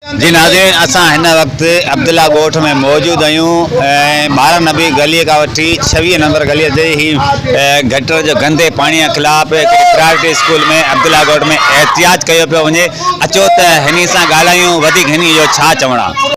جي ناظرين اسان هن وقت عبدالله ڳوٺ ۾ موجود آهيون ۽ ٻارهن نبي گلي کان وٺي ڇويهه نمبر گلي تائين هي گٽر جو گندي پاڻي کان خلاف پرائرٽي اسڪول ۾ عبدالله ڳوٺ ۾ احتجاج ڪيو پيو وڃي اچو ته هني سان ڳالهايون وڌيڪ هني جو ڇا چوڻ آهي.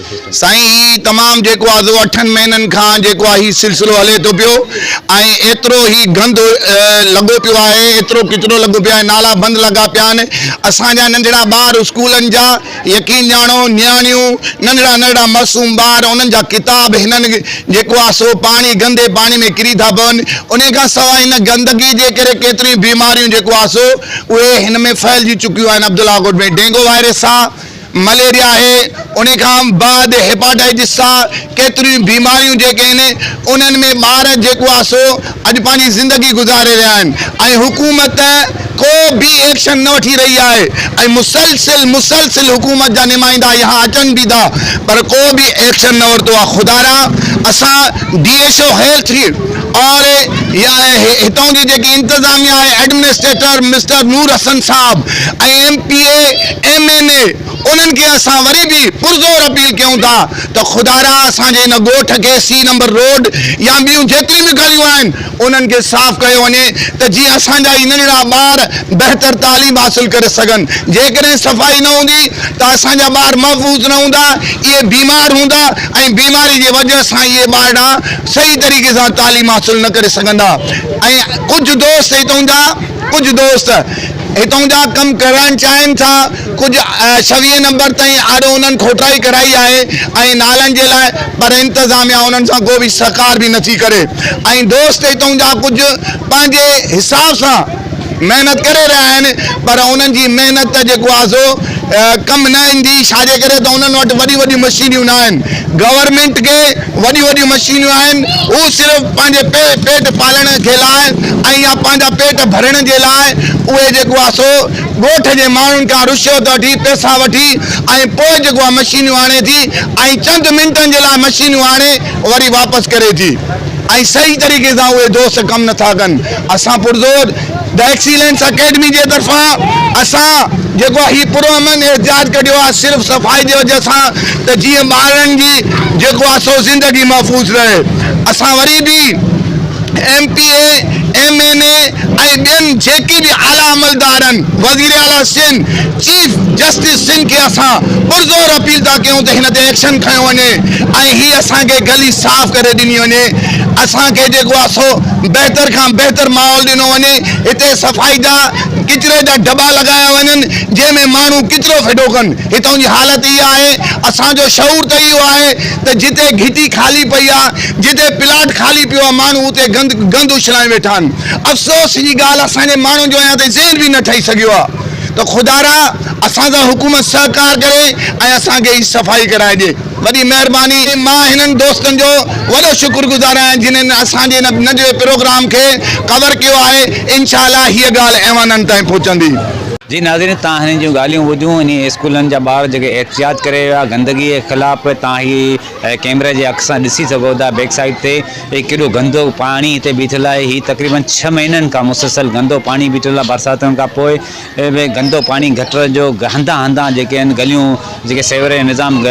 سائين هي تمام جيڪو آزو اٺن مهينن کان جيڪو آ هي سلسلو هلي ٿو پيو ۽ ايترو هي گند لڳو پيو آهي ايترو ڪچرو لڳو پيو آهي نالا بند لڳا پيا آهن اسان جا ننڍڙا ٻار اسڪولن جا يقين ڄاڻو نياڻيون ننڍڙا ننڍڙا معصوم ٻار انهن جا ڪتاب هنن جيڪو آ سو پاڻي گندي پاڻي ۾ ڪري ٿا پون انهي کان سواء هن گندگي جي ڪري ڪيتريون بيماريون جيڪو آ سو اهي هن ۾ ڦهلجي چڪيون آهن عبدالله ڳوٺ ۾ ڊينگو وائرس آ مليريا آهي، ان کان بعد هيپاٽائيٽس سان ڪيتريون بيماريون جيڪي آهن انهن ۾ ٻار جيڪو آهي سو اڄ پنهنجي زندگي گذاري رهيا آهن ۽ حڪومت ڪو به ايڪشن نه وٺي رهي آهي ۽ مسلسل مسلسل حڪومت جا نمائندا يهان اچن به ٿا پر ڪو به ايڪشن نه ورتو آهي خدايا اسان ڊي ايڇ او هيلٿ کي آر اي يا هتان جي جيڪي انتظاميا آهي ايڊمنسٽريٽر مسٽر نور حسن صاحب ۽ M P A M N A انهن کي اسان وري به پرزور اپيل ڪيون ٿا ته خدارا اسان جي ان ڳوٺ کي سي نمبر روڊ يا ٻيون جيتريون به گليون آهن انهن کي صاف ڪيو وڃي ته جيئن اسان جا هي ننڍڙا ٻار بهتر تعليم حاصل ڪري سگهن جيڪڏهن صفائي نه هوندي ته اسان جا ٻار محفوظ نه هوندا اهي بيمار هوندا ۽ بيماري جي وجه سان اهي ٻارڙا صحيح طريقي سان تعليم حاصل نه ڪري سگهندا ۽ ڪجهه دوست هتون جا ڪجهه دوست هتون جا ڪم ڪرائڻ چاهين ٿا ڪجهه ڇويهين نمبر تائين آڏو انهن کوٽائي ڪرائي آهي ۽ نالن جي لاء پر انتظاميا انهن سان ڪو به سهڪار به نٿي ڪري ۽ دوست هتون جا ڪجهه پنهنجي حساب سان محنت ڪري رهيا آهن پر انهن جي محنت جيڪو آهي سو ڪم نه ايندي ڇاجي ڪري ته انهن وٽ وڏيون وڏيون مشينيون نه آهن گورنمينٽ کي وڏيون وڏيون مشينيون آهن هو صرف پنهنجي پيٽ پالڻ کي لاء ۽ يا پنهنجا پيٽ ڀرڻ جي لاء اهي جيڪو آهي سو ڳوٺ جي ماڻهن کان رشوت وٺي پئسا وٺي ۽ پوء جيڪو آهي مشينيون آڻي ٿي ۽ چند منٽن جي لاء مشينيون آڻي وري واپس ڪري ٿي ۽ صحيح طريقي سان اهي دوست ڪم نٿا ڪن اسان پرزور The Excellence Academy جي طرفان اسان جيڪو آهي هي پرامن احتجاج ڪڍيو آهي صرف صفائي جي وجه سان ته جيئن ٻارڙن جي جيڪو آهي سو زندگي محفوظ رهي اسان وري به M P A M N A ۽ ٻين جيڪي به اعليٰ عملدارن وزيراعليٰ سنڌ چيف جسٽس سنگهه کي اسان پرزور اپيل ٿا ڪيون ته هن تي ايڪشن کنيو وڃي ۽ هي اسان کي گلي صاف ڪري ڏني وڃي اسان کي جيڪو آهي سو بهتر کان بهتر ماحول ڏنو وڃي هتي صفائي جا ڪچري جا ڊبا لڳايا وڃن جنهن ۾ ماڻهو ڪچرو ڦٽو ڪن هتون جي حالت اها آهي اسان جو شعور ته اهو آهي ته جتي گهٽي خالي پئي آهي جتي پلاٽ خالي پيو آهي ماڻهو اتي گند گند اڇلائي ويٺا آهن افسوس جي ڳالهه اسان جي ماڻهن جو اڃا تائين ذهن به نه ٺهي سگهيو آهي. ته خدارا اسان سان حڪومت سهڪار ڪري ۽ اسان کي هي صفائي ڪرائي ڏي. وڏي مهرباني. مان هنن دوستن جو وڏو شڪر گذار آهيان جنن اسان جي هن ننڍڙي پروگرام کي ڪور ڪيو آهي انشاء الله هيء ڳالهه ايوانن تائين پهچندي. جي ناظرين تان هنن جون ڳالهيون ٻڌيون انهي اسڪولن جا ٻار جيڪي احتجاج ڪري ويا گندگي خلاف تان هي هي ڪيمري جي اک سان ڏسي سگهو ٿا بيڪ سائيڊ تي هي ڪيڏو گندو پاڻي هتي بيٺل آهي هي تقريبن ڇهه مهينن کان مسلسل گندو پاڻي بيٺل آهي برساتن کان پوء به گندو پاڻي گٽر جو هنڌان هنڌان جيڪي آهن گليون جيڪي سيوريج نظام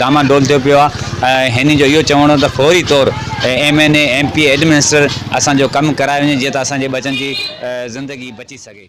ڊاما ڊول ٿيو پيو آهي هنن جو اهو چوڻ هو ته فوري طور M N A M P administrator اسان جو ڪم ڪرائي وڃي جيئن ته اسان جي ٻچن جي زندگي بچي سگهي.